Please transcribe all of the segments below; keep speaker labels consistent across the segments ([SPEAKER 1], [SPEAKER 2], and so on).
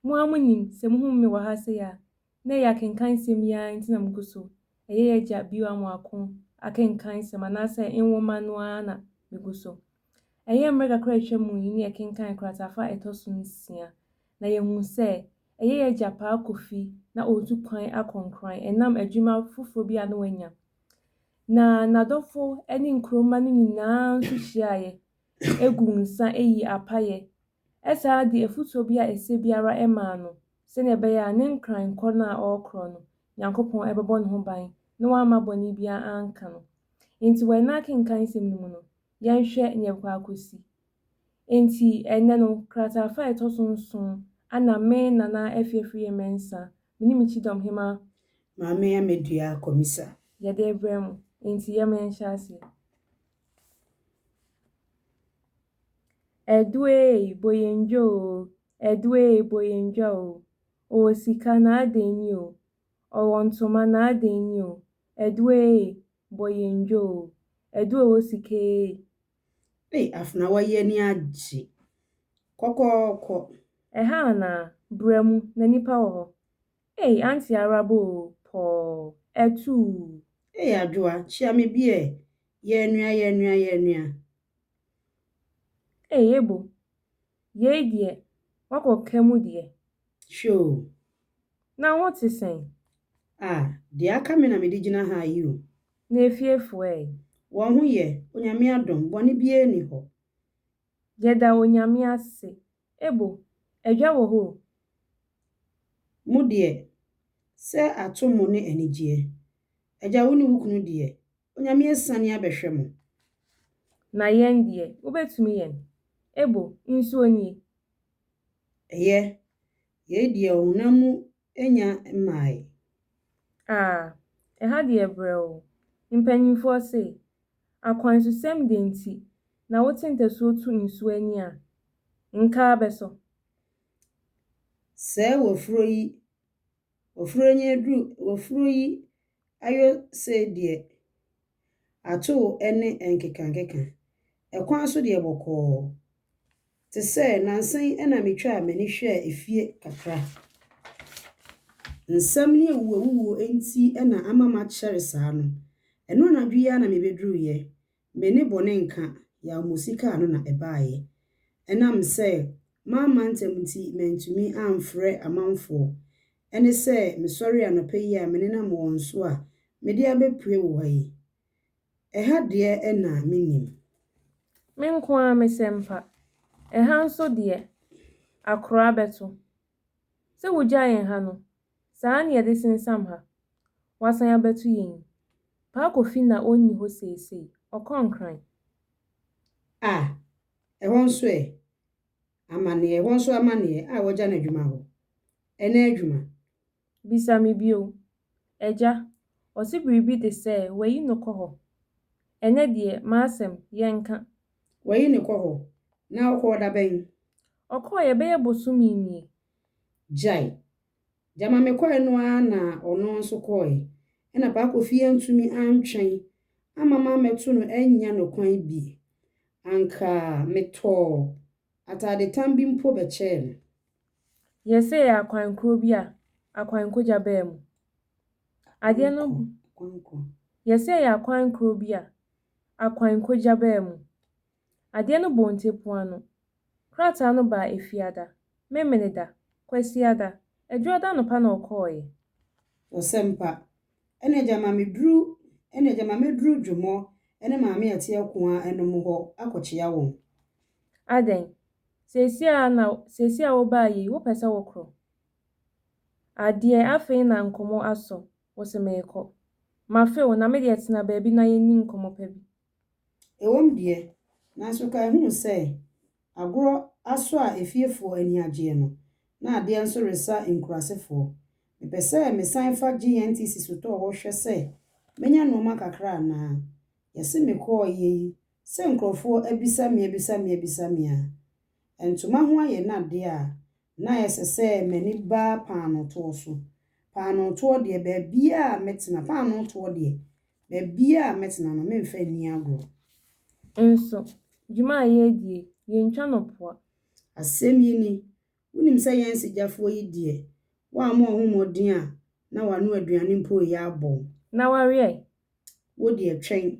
[SPEAKER 1] Mo ara munim sɛ muhu me wɔ ha sei a, na ɛyɛ akenkan nsɛm yi ara nti na mugu so, ɛyɛ Y'agya bio a moako akenkan nsɛm anaasɛ nwoma no ara na migu so. Ɛyɛ mmerɛ kakra a atwa mu yi ne yɛkenkan kratafa a ɛtɔ so nsia, na yɛhuu sɛ ɛyɛ Y'agya paa Kofi na ɔretu kwan akɔ Nkran ɛnam adwuma foforɔ bi a na wanya. Na n'adɔfo ne nkuro mma no nyinaa nso hyiaaeɛ gu nsa ayi apaeɛ Ɛsaa de afotuo bi a ɛsɛ biara maa no sɛdeɛ ɛbɛyɛ a ne nkran korɔ no a ɔrekorɔ no, Nyankopɔn bɛbɔ ne ho ban na wamma bɔne biara anka no. Enti wɔ ɛnnɛ akenkan nsɛm no mu no, yɛnhwɛ nea ɛbɛkɔ akɔsi. Enti ɛnnɛ no, krataafa a ɛtɔ so nson a na me, Nana Afie Afriyie-Mensah, me ne me kyidɔm hema, Maame Amadua Akomisa. Yɛde rebrɛ mo. Enti yɛma yɛnhyɛ aseɛ. Ɛdoeei boyendwa oo, ɛdoeei boyendwa oo, ɔwɔ sika na adɛn ni oo, ɔwɔ ntoma na adɛn ni oo, ɛdoeei boyendwa oo, ɛdoe ɔwɔ sika eei. Ei Afena w'ayi ani agye kɔkɔɔkɔ. Ɛha anaa? Bra mu na nipa wɔ hɔ. Ei Auntie Araba oo, pɔɔ, ɛtuu. Ei Adwoa, kyia me bi ɛ, yɛɛnua yɛɛnua yɛɛnua. Ei Ebo, yei deɛ woakɔ ka mu deɛ. Hwɛ o. Na wo ho te sɛn? Ah, deɛ aka me na mede gyina ha yi o. Na efiefoɔ ɛ? Wɔn ho yɛ, Onyame adom, bɔne biara nni hɔ. Yɛda Onyame ase. Ebo, adwa wɔ hɔ o. Mo deɛ, sɛ ato mo ne anigyeɛ. Agya wo ne wo kunu deɛ, Onyame asiane abɛhwɛ mo. Na yɛn deɛ, wobɛtumi yɛn. Ebo, nsuo nie. Ɛyɛ, yei deɛ ɔhonam mu nya mmaae. Ah, ɛha deɛ brɛoo. Mpanyimfoɔ se, Akwansusɛm deɛ nti na wote ntasuo tu nsuo ani a, nkaa bɛsɔ. Sɛɛ wafuro yi Ofuro nye aduru Ofuro yi ayo se deɛ atoo ne nkekankeka Ɛkwan so deɛ bɔkɔɔ Te sɛ nansa yi na metwaa m'ani hwɛɛ efie kakra Nsɛm ne awuwuawuwuo nti na ama makyɛre saa no Ɛno anadwo yi ara na mebɛduruiɛ Me ne bone nka, yaw mosi kaa no na ɛbaeɛ. Ɛnam sɛ mamma ntɛm nti mantumi amfrɛ amanfoɔ. Ɛne sɛ mesɔre anɔpa yi a me nenam wɔn so a mede abɛpue wo hɔ yi. Ɛha deɛ ɛna mennim. Me nko ara me sɛ mpa. Ɛha nso deɛ akora bɛto. Sɛ wogyae ɛha no Saa ne yɛde sensam ha. Wasan abɛto yɛn yi. Paa Kofi na ɔnni hɔ seesei. Ɔkɔɔ Nkran. Ah! Ɛhɔ nso ɛ? Amanneɛ, ɛhɔ nso amanneɛ a wɔagya no adwuma hɔ. Ɛna adwuma. Bisa me bio. Agya, ɔse biribi de sɛ wayi no kɔ hɔ. Ɛnɛ deɛ, m'asɛm, yɛnka. Wayi no kɔ hɔ? Na ɔkɔɔ da bɛn? Ɔkɔɔeɛ bɛyɛ bosome nie. Gyae. Gyama mekɔe no ara na ɔno nso kɔe. Ɛnna Paa Kofi antumi antwɛn amma mammɛto no annya no kwan bi. Anka metɔɔ atadetam bi mpo bɛkyɛɛ no. Yɛsee akwan koro bi a akwankogya baa mu. Adeɛ no Kwankɔ, kwankɔ. Yɛsee akwan koro bi a akwankogya baa mu. Adeɛ no bɔɔ ntɛpua no, krataa no baa Efiada, Memeneda, Kwasiada, Adwuada anɔpa na ɔkɔɔeɛ. Ɔsɛmpa, Ɛna gya ma meduru Ɛna gya ma mɛduru Dwomɔ ne Maame Ati Akoaa nom hɔ akɔkyea wɔn. Adɛn, seesei ara na seesei a wobaa yei wopɛ sɛ wokorɔ? Adeɛ, afei na nkɔmmɔ asɔ wo se merekɔ. Mafe wo na me deɛ tena baabi na yɛnni nkɔmmɔ pa bi. Ɛwom deɛ, nanso kae hu sɛ, agorɔ asɔ a efiefoɔ ani agyeɛ no, na adeɛ nso resa nkurasefoɔ. Mepɛ sɛ mesan fa GNTC sotɔɔ hɔ hwɛ sɛ mɛnya nnoɔma kakra anaa. Yɛse mekɔɔeɛ yi, sɛ nkurɔfoɔ abisa me abisa me abisa me a, Ntoma ho ayɛ no ade a, na ɛsɛ sɛ m'ani ba paanoo toɔ so. Paanoo toɔ deɛ, baabiara a mɛtena, paanoo toɔ deɛ, baabiara a mɛtena no, meremfa nni agorɔ. Nso, dwuma a yɛredi yi, yɛntwa no poa. Asɛm yi ni, Wonim sɛ yɛn nsigyafoɔ yi deɛ, wɔammɔ wɔn ho mmɔden a na wɔano aduane mpo reyɛ abɔ. Na wɔaweɛ. Wo deɛ, twɛn,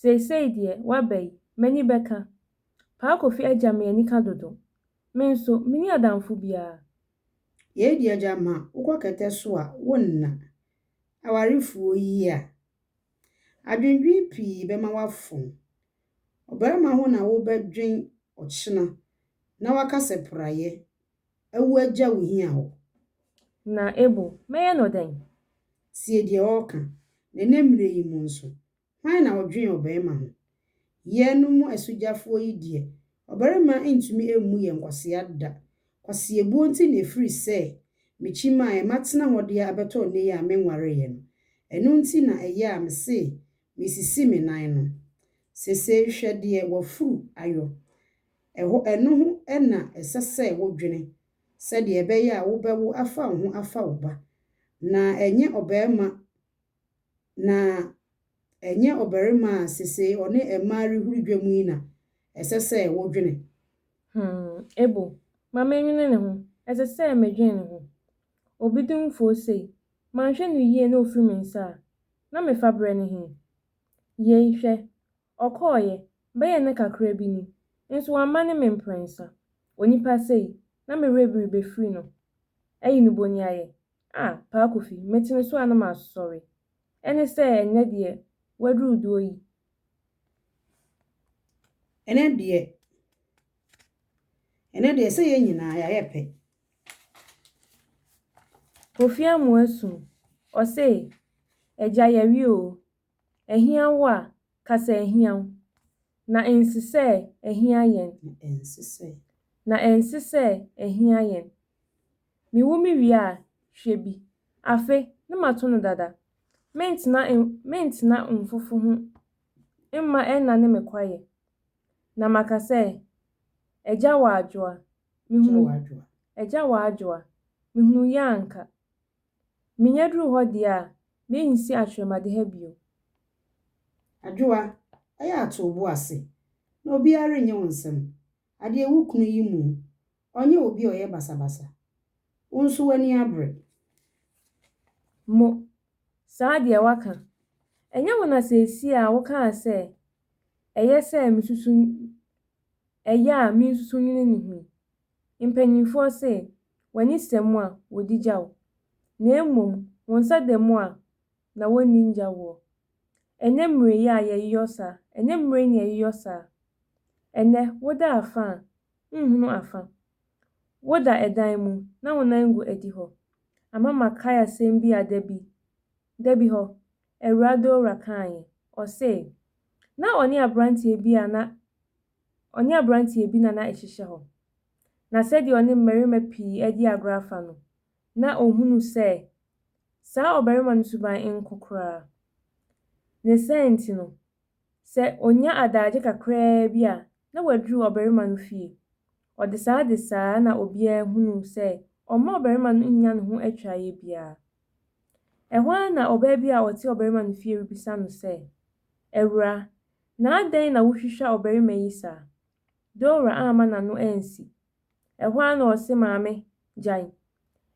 [SPEAKER 1] Seisei deɛ waba yi, m'ani bɛka. Paa Kofi agya me anika dodo. Me nso, menni adamfo biara. Yei deɛ gyama wokɔ kɛtɛ so a wonna. Awarefoɔ yi a. Adwendwen pii bɛma woafom. Ɔbarima ho na wobɛdwen ɔkyena na woaka sɛ praeɛ awu agya wo hia hɔ. Na Ebo, mɛyɛ no dɛn? Tie deɛ ɔreka, na ɛnnɛ mmerɛ yi mu nso, Hwan na ɔdwen ɔbarima ho? Yɛnom mo asugyafoɔ yi deɛ, ɔbarima ntumi mmu yɛn nkwasea da. Kwaseɛbuo nti na ɛfiri sɛ mekyi maaɛ matena hɔ deɛ abɛtɔ nnɛ yi a menwareeɛ no. Ɛno nti na ɛyɛ a mese mesisi me nan no. Sesei hwɛ deɛ w'afuru ayɔ. Ɛhɔ ɛno ho na ɛsɛ sɛ wodwene sɛdeɛ ɛbɛyɛ a wobɛwo afa wo ho afa wo ba, na ɛnyɛ ɔbarima Na ɛnyɛ ɔbarima a sesei ɔne mmaa rehuru dwam yi na ɛsɛ sɛ wodwene. Hmm, Ebu, ma menwene ne ho, ɛsɛ sɛ medwene ne ho. Obi di wo foo sei, manhwɛ no yie na ofiri me nsa a, na mefa berɛ no he? Yei, hwɛ, ɔkɔeɛ, bɛyɛ nna kakra bi ni, nso wamma ne me mprɛnsa. Onipa sei, na me werɛ biri bɛfiri no, ayi no boniayɛ, Ah, Paa Kofi, metsene so a na masɔre. Ɛne sɛ ɛnnɛ deɛ woaduru doɔ yi. Ɛnɛ deɛ, ɛnɛ deɛ sɛ yɛn nyinaa yɛayɛ pɛ. Kofi Amoah Sum, ɔse, Agya yɛwe oo, Ahia wo a, ka sɛ ahia wo. Na ense sɛ ahia yɛn. Na ense sɛ. Na ense sɛ ahia yɛn. Me wu me wie a, hwɛ bi. Afe, ne ma to no dada. Me ntena en, me ntena nfofo ho mma ɛnna ne me kwayɛ. Na maka sɛ, Agya wɔ adwoa, me hunu. Agya wɔ adwoa, me hunu yɛ anka. Menya duru hɔ deɛ a, mɛnsi atwerɛmade ha bio. Adwoa, Ɛyɛ a to wo bo ase, na obiara rennye wo nsɛm. Adeɛ wo kunu yi mu, ɔnyɛ obi a ɔyɛ basabasa. Wo nso w'ani abere. Mo, Saa deɛ woaka. Ɛnyɛ wo na seesei a wokaa sɛ ɛyɛ sɛ mesusu ɛyɛ a mensusu nwene ne ho yi? Mpanyimfoɔ se, W'ani sɛ mu a, wɔdi gya wo, na mmom wo nsa da mu a, na wɔnni ngya woɔ. Ɛnyɛ mmerɛ yi a yɛyeyɔ saa, ɛnyɛ mmerɛ yi na yɛyeyɔ saa. Ɛnnɛ, woda afa a, wonhunu afa. Woda ɛdan mu, na wo nan gu adi hɔ. Ama makae asɛm bi a da bi, da bi hɔ, Awuradawura kaaeɛ. Ɔsee, na ɔne aberanteɛ bi a na Ɔne aberanteɛ bi na na ɛhyehyɛ hɔ, na sɛdeɛ ɔne mmarima pii redi agorɔ afa no, na ɔhunu sɛ saa ɔbarima no suban nko koraa. Ne saa nti no, sɛ ɔnya adaagye kakraa bi a, na waduru ɔbarima no fie. Ɔde saa de saa na obiara hunu sɛ ɔmma ɔbarima no nnya ne ho atwaeɛ biara. Ɛhɔ ara na ɔbaa bi a ɔte ɔbarima no fie rebisa no sɛ, Awura, Na adɛn na wohwehwɛ ɔbarima yi saa? Dora amma n'ano ansi. Ɛhɔ ara na ɔse, Maame, gyae.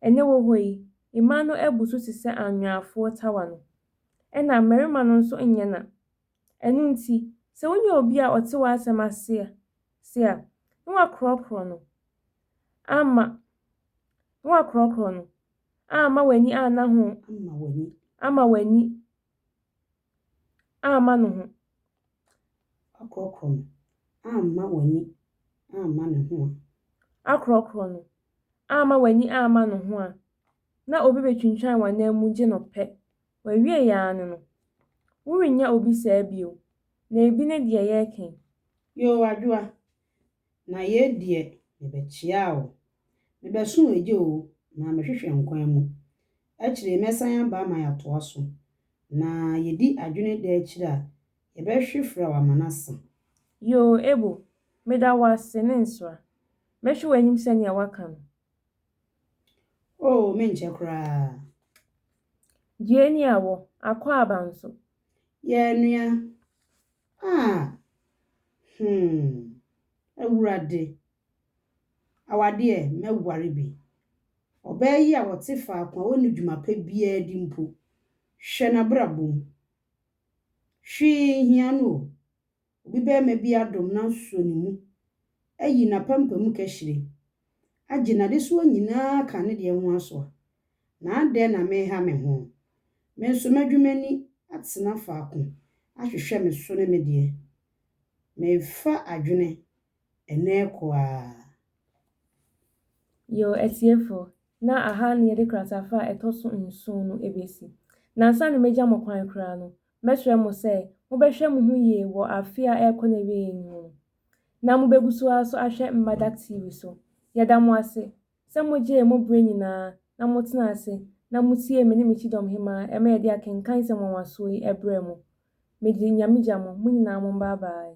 [SPEAKER 1] Ɛnnɛ wɔ hɔ yi, mmaa no abu so te sɛ anweafoɔ tawa no. Ɛna mmarima no nso nyɛ na. Ɛno nti, sɛ wonya obi a ɔte w'asɛm ase se a, na woakorɔkorɔ no amma, na woakorɔkorɔ no amma w'ani anna ho, amma w'ani amma ne ho. Akorɔkorɔ no, amma w'ani amma ne ho a. Akorɔkorɔ no, amma w'ani amma ne ho a, na obi bɛtwintwan w'anan mu gye no pɛ. Wawie yɛ ara ne no. Worennya obi saa bio, na ebi ne deɛ yɛreka yi. Yoo, Adwoa, Na yei deɛ mebɛkyea wo. Mebɛso w'agya o, na mehwehwɛ nkwa mu. Akyire yi mɛsan aba ma yɛatoa so. Na yɛdi adwene da akyire a yɛbɛhwe fra wo ama no asa. Yoo Ebo, meda wo ase, ne nsra. Mɛhwe w'anim sɛdeɛ woaka no. Oo, menkyɛ koraa. Gyeeni a wɔ, Akwaaba nso. Yɛn nua. Ah, hmm, Awurade. Awadeɛ, mɛware bi. Ɔbaa yi a ɔte faako a ɔnni dwuma pa biara di mpo, hwɛ n'abrabɔ mu. Hwee nhia no o. Obi barima bi adom no asɔ ne mu, ayi n'apampam kahyire, agye n'adesoa nyinaa aka ne deɛ ho asoa, na adɛn na mereha me ho? Me nso mɛdwo m'ani atena faako ahwehwɛ me so ne me deɛ. Merefa adwene ɛnnɛ rekɔ ara. Yoo atiefoɔ, na aha na yɛde kratafa a ɛtɔ so nson no bɛsi. Na ansa na mɛgya mo kwan koraa no, mɛsrɛ mo sɛ mobɛhwɛ mo ho yie wɔ afe a ɛrekɔ n'awieeɛ yi mu no. na mobɛgu so ara so ahwɛ Mmadak TV so. Yɛda mo ase sɛ mogyee mo berɛ nyinaa na motenaa ase na motiee me ne me kyidɔm hemmaa ɛma yɛde akenkan nsɛm nwanwasoɔ yi brɛɛ mo. Mede Nyame gya mo, mo nyinaa mombaa baae.